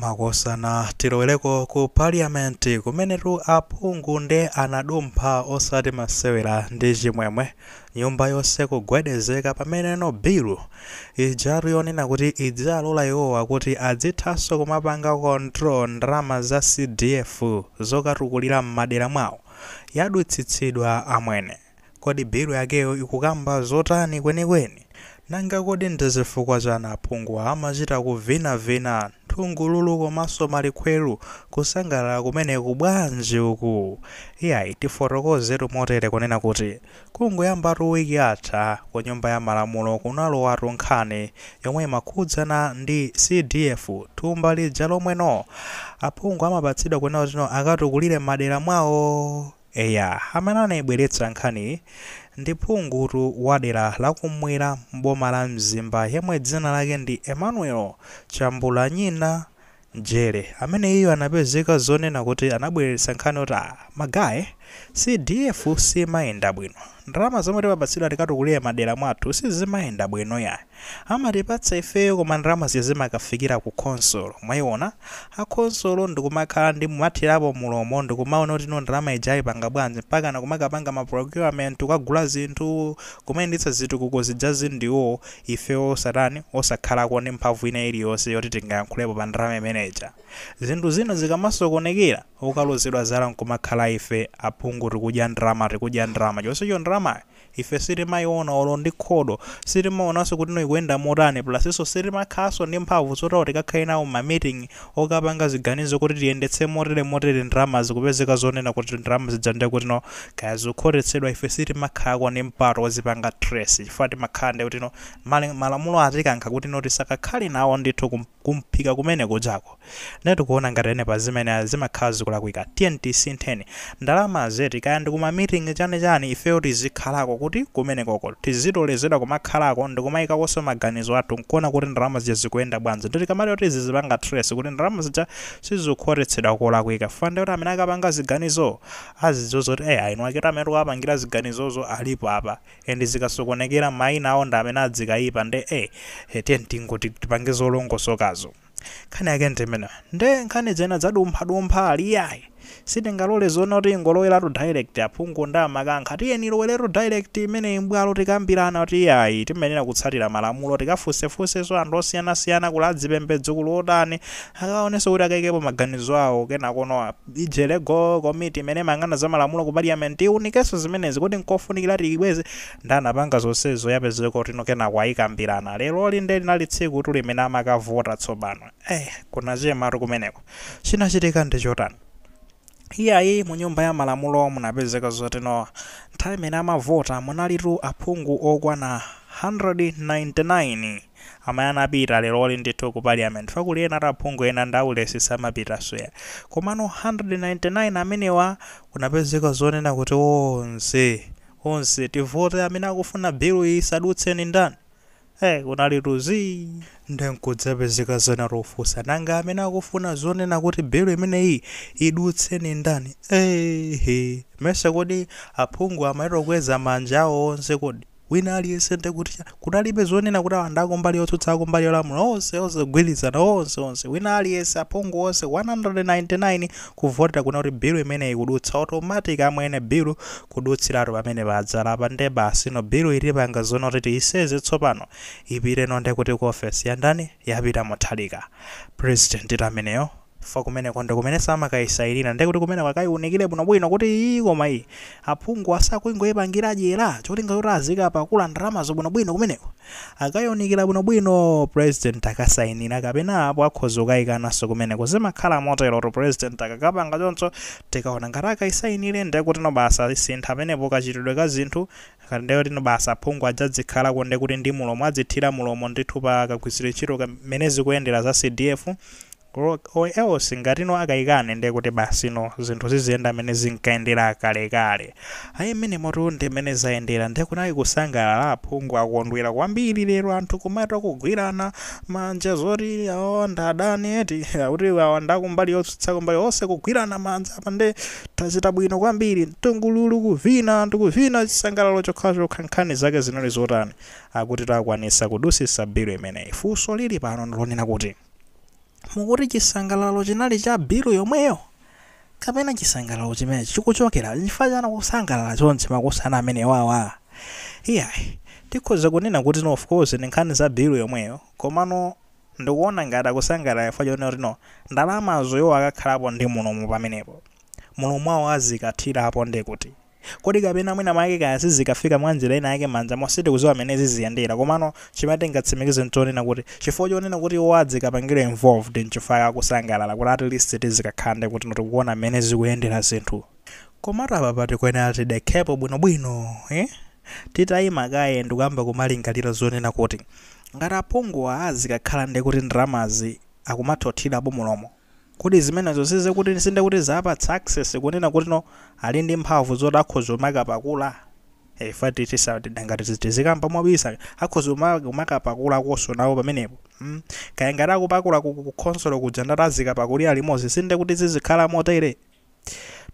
Makosana tiloweleko ku parliament kumenetu aphungu nde anadumpha osati masewera ndi chimwemwe nyumba yonse kugwedezeka pameneno bill ijatu yonena kuti idzialola iwowa kuti adzithanso kumapanga control ndalama za CDF zokatukulira mmadera mwawo yadutsitsidwa amwene. Kodi bill yakeyo ikukamba zotani kwenikweni? Nanga kodi ndi chifukwa chani aphunguwa amachita kuvina vina nthungululu komanso malikhwelu? Kusangalala kumeneku bwanji uku? Iyayi tifotokozetu motere kunena kuti kungoyambatu week yatha ku nyumba ya malamulo kunalowatu nkhani yomwe imakhudzana ndi CDF thumba lija lomwe no aphungu amapatsidwa kunena kuti no akatukulire mmadera mwawo. Eya, amene anaibweretsa nkhaniyi ndi phungutu wa dera la kummwera m'boma la Mzimba yemwe dzina lake ndi Emmanuel Chambulanyina Jere amene iyeyu anapezeka zonena kuti anabweretsa nkhani yoti ah, ma guys, CDF simayenda bwino. Ndalama zomwe timapatsidwa tikatukulire madera mwathu sizimayenda bwino yayi. Amatipatsa ifeyo koma ndalama zija zimakafikira ku khonsolo. Mwayiwona? A khonsolo ndikumakhala ndikumathirapo mulomo ndikumawona kuti no ndalama ija ayipanga bwanji mpakana kumakapanga ma procurement kukagula zinthu, kumayendetsa zitukuko zijazi ndiwo ifeyo osatani, osakhalako ndi mphamvu ina iliyonse yoti tingayankhulepo pa ndalama imene ija. Zinthu zina zikamasokonekera. okalozedwa zala nkumakhala ife aphungu tikudya ndalama tikudya ndalama chonsecho ndalamayo ife sitimayiona olo ndi khobo sitimaonanso kutino ikuyenda motani plusnso sitimakhalanso ndi mphamvu zoti tikakhale nawo mma meeting okapanga ziganizo kuti tiyendetse motere motere ndalama zikupezeka zonena kuti ndalama zija nde kutino kaya zikukhotetsedwa ife sitimakhalako ndi mpato ozipanga trace chifukwa timakhala nde kutino malamulo atikankha kutino tisakakhale nawo ndithu ku kumphika kumene kujako nde tikuona ngati ene pazimene zimakhala zikulakwika tiyeni tisintheni ndalama zeti kaya ndikuma meeting chani chani ifeyo tizikhalako kuti kumenekoko tiziloledwa kumakhalako ndikumayikakonso maganizo athu nkuona kuti ndalama zija zikuyenda bwanji nde tikamati oti zizipanga trace kuti ndalama zija sizikukhotetsedwa kolakwika fukwa ndekuti amene akapanga ziganizo azidziwa zoti eya eniwaketu amene tikuwapangira ziganizozo alipo apa and zikasokonekera maina awo ndi amene azikaipa nde eh tiyeni tingoti tipange zolongosokazo nkhani yake ndi imeneyo nde nkhani zina zadumphadumpha aliyayi sitingalole zona kuti ingoloweratu direct aphungu nde amakankha tiyeni iloweretu direct imeneyi mbwalo tikambirane kuti iyayi timayenera kutsatira malamulo tikafunsefunsenso anthu osiyanasiyana kuli adzipembedzo kuli otani akaonenso kuti akaikepo maganizo awo kenakono apa Legal Komiti imene imayang'ana za malamulo ku Parliament iwunikenso zimenezi. kuti nkofunikira tiyibweze? Nde anapanga zonsezo yapezeka kutino kenako ayikambirana. Leroli nde linali tsikutu limene amakavota tsopano. Eeh! Kunachematu kumeneko. Chinachitika ndi chotani? Iyayi, mu nyumba ya malamulo munapezeka zotino nthawi imene amavota munalitu aphungu okwana 199. Amene anapita leroli ndithu ku parliament chifukwa kuli enatu aphungu ena ndi aulesi samapitaso eya. Komano 199 amenewa kunapezeka zonena kuti onse onse tivote amene akufuna bill yi isadutse ndi ndani? Hey kunalitu zii. Nde nkudzapezeka zonati ofunsa nanga amene akufuna zonena kuti bill imeneyi idutse ndi ndani? Eeehh mmesa kodi aphungu amayitokweza manja awo onse kodi? wina aliyense ndiye kuti eya, kunalibe zonena kuti awa ndi akumbali yotsutsa akumbali yolamula onse onse kugwirizana onse onse wina aliyense aphungu onse 199 kuvotera kuna kuti bill imeneyi kudutsa automatic amwene bill kudutsiratu pamene padzalapa ndiye basi no bill itipanga zona kuti tiyiseze tsopano ipite no ndiye kuti ku office ya ndani ya Pita Mutharika president ndi ameneyo chifukwa kumeneko ndikumenenso amakayisayinira ndiye kuti kumeneko akayiwunikire bwinobwino kuti ii koma iyi aphungu asakungoyipangira dyera cholinga choti azikapakula ndalamazo bwinobwino kumeneko akayiwunikira bwinobwino president akasayinire kapena apo akhoza kukayikananso kumeneko zimakhala moterotu president akakapanga choncho tikaona ngati akayisayinire ndiye kuti no basi asinthe pamenepo kachitidwe ka zinthu nde kuti basi aphungu adzadzikhalako nde kuti ndi mulomo adzithira mulomo ndithu pa kagwiritsidwe ntchito ka mmene zikuyendera za CDF or or else ngatino akaikane nde kuti basino zinthu ziziyenda mmene zinkayendera kalekale. Ayi mmenimotu ndi mmene zayendera nde kunali kusangalala aphungu akondwera kwambiri lero anthu kumatakugwirana manja zoti awawa ndi adani eti kuti awa ndi akumbali yotsutsa kumbali onse kugwirana manja apa nde Tachita bwino kwambiri. Mtungululu kuvina anthu kuvina chisangalalo chokhachokha nkhani zake zinali zotani? Akuti takwanisa kudusisa bill imeneyi. Funso lili pano ndilonena kuti mukuti chisangalalo chinali cha bill yomweyo? Kapena chisangalalo chimenechi chikuchokera? Nchifukwa chani kusangalala chonchi makosana amenewawa? Iyayi. Tikhoza kunena kuti of course ndi nkhani za bill yomweyo komano Ndikuona ngati akusangalala chifukwa chonena kuti no ndalamazo iwowo akakhalapo ndi mulomo pamenepo. Mulomo wawo azikathirapo nde kuti. Kodi kapena mwina mwake kaya sizikafika mwanjira ina yake manjamo sitikuziwa mene ziziyendera komano chimene tingatsimikize nchonena kuti chifukwa chonena kuti iwowo adzikapangidwa involved nchifukwa chake akusangalala kuti at least tizikakhala nde kuti no tikuona mene zikuyendera zinthu. Komatu apapa tikuyenera tidekhepo bwino bwino eh. Titayima kaye ndikuyamba kumalingalira zonena kuti, ngati aphunguwa azikakhala nde kuti ndalamazi akumathothirapo mulomo, kodi zimenezo sizikuti sindekuti zawapatsa access kunena kuti no ali ndi mphamvu zoti akhoza kumakapakula? Eh chifukwa tisangati tizikamba mobisa akhoza kuma kumakapakulakonso nawo pamenepo mm kaya ngati akupakula ku ku khonsolo kuja ndiye kuti azikapakulira limodzi sindekuti zizikhala motere?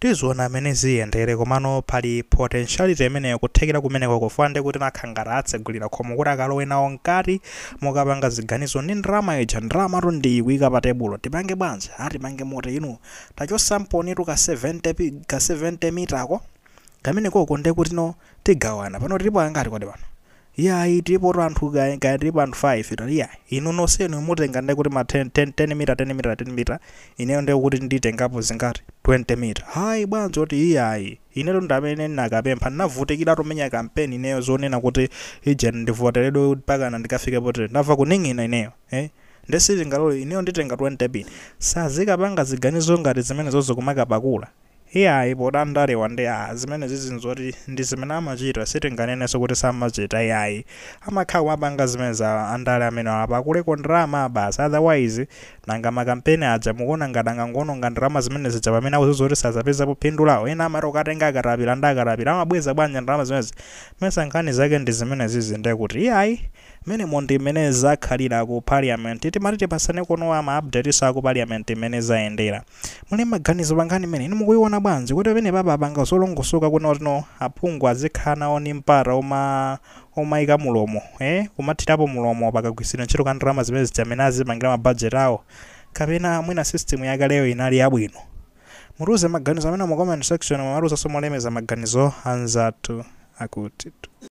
Tiziona mmene ziyendere komano pali potentiality imeneyo kuthekera kumeneko chifukwa ndi kuti nanga ngati atsegulira khomo kuti akalowe nawo mkati mukapanga ziganizo ndi ndalama ija ndalamatu ndi iyi kuika pa tebulo tipange bwanji a tipange moti inu tachosamponitu ka 70 pi- ka 70 mita ko kamenekoko nde kuti no tigawana pano tilipo angati kodi pano Iyayi tilipotu anthu kaya kaya tilipo anthu 5 tati iyayi inu nonsenu mutenga nde kuti ma 10 10 10 mita 10 mita 10 mita ineyo nde kuti nditengapo zingati 20 mita hayi bwanji oti iyayi inetu ndi amene ndinakapempha ndinavutikiratu kumenya kampeni ineyo zonena kuti ija ndivoteredwe mpakana ndikafike potere ndamva kuning'ina ineyo eh nde sindingalole ineyo nditenga 20 pin sazikapanga ziganizo ngati zimenezozo kumakapakula Iyayi poti andalewa ndi aah zimenezizi nzoti ndizimene amachita sitinganenenso kuti samachita iyayi amakhala akumapanga zimenezi aah andale amenewa apakuleko ndalama basi otherwise nanga ma campaign aja mukuona ngati angangoononga ndalama zimenezija pamene akuziwa zoti sazapezapo phindu lawo ena amati kukatenga akatapila nda akatapila amabweza bwanji ndalama zimenezi nesa nkhani zake ndizimenezizi ndekuti iyayi menemo ndi mmene zakhalira ku parliament timati tipasanekono ma updatenso aku parliament mmene zayendera. Muli maganizo pankhani imeneyi inu mukuiona bwanji? Kodi pamenepapa apanga zolongosoka kunena kuti no aphungu azikhala nawo ndi mpata oma omaika mulomo ee kumathirapo mulomo pakagwiritsidwe ntchito ka ndalama zimenezija mmene azipangira ma budget awo? Kapena mwina system yakaleyo inali yabwino? Mutiuze maganizo amenewo mu comment section mumatiuzanso molemekeza maganizo anzathu akuti tu.